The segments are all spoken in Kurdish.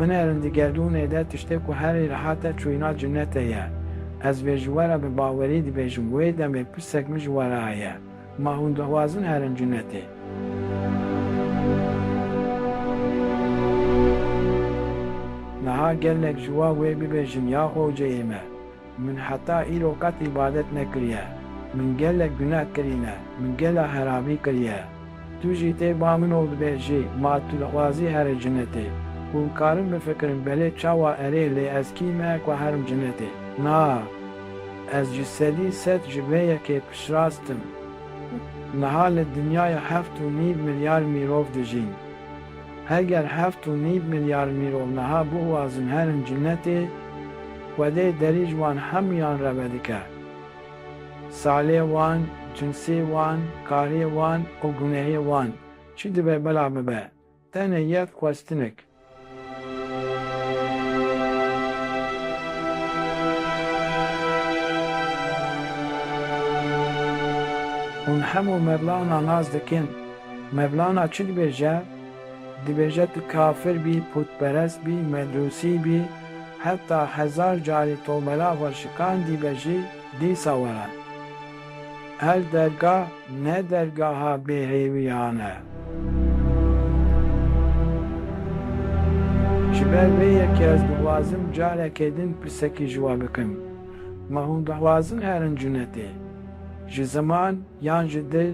Binerin di gerdûnê de tiştê ku herî rehat e çûyîna cinetê ye. Ez vê ji we re bi bawerî dibêjim, wê demê pirsek min ji we re heye, Ma hûn dixwazin herin cinetê? Niha gelek ji we wê bibêjin, Ya xwewceyê me! Min heta îro qet îbadet nekiriye. Min gelek guneh kirîne. Min gela heramî kiriye. Tu jî tê ba min û dibê jî ma tu dixwazî here cinetê. Hûn karin bifikirin belê çawa erê lê ez kî me ku herim cinetê? Na! Ez ji sedî sed ji vê yekê piştrast im. Niha li dinyaya heft û nîv milyar mîrov dijîn. Heger heft û nîv milyar mîrov niha bixwazin herin cinetê, xwedê derî ji wan hemûyan re vedike. Salê wan, cinsê wan, karê wan û gunehê wan çi dibe bila bibe, tenê yek xwestinik. Hûn hemû mevlana nas dikin. Mevlana çi dibêje? Dibêje tu kafir bî, pûtperest bî, medûsî bî, heta hezar carî tomela xwe şikandîbe jî dîsa were. Her dergah ne dergaha bêhêwiyan e. Ji ber vê yekê ez dixwazim carekê din pirsekî ji we bikim. Ma hûn dixwazin herin cunetê? Ji ziman yan ji dil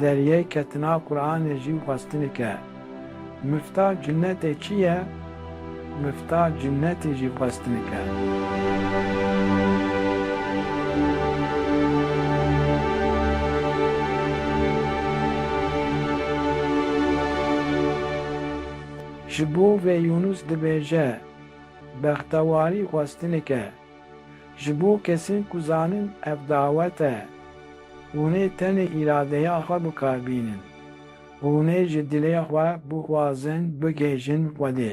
Deryê ketina Quranê jî xwestinike. Mifta cinnetê çi ye? Mifta cinnetê jî xwestinike. Ji bo vê Yûnus dibêje, Bextewarî xwestinike. Ji bo kesên ku zanin ev dawet e, hûn ê tenê îradeya xwe bikar bînin. Hûn ê ji dilê xwe bixwazin bigihîjin Xwedê.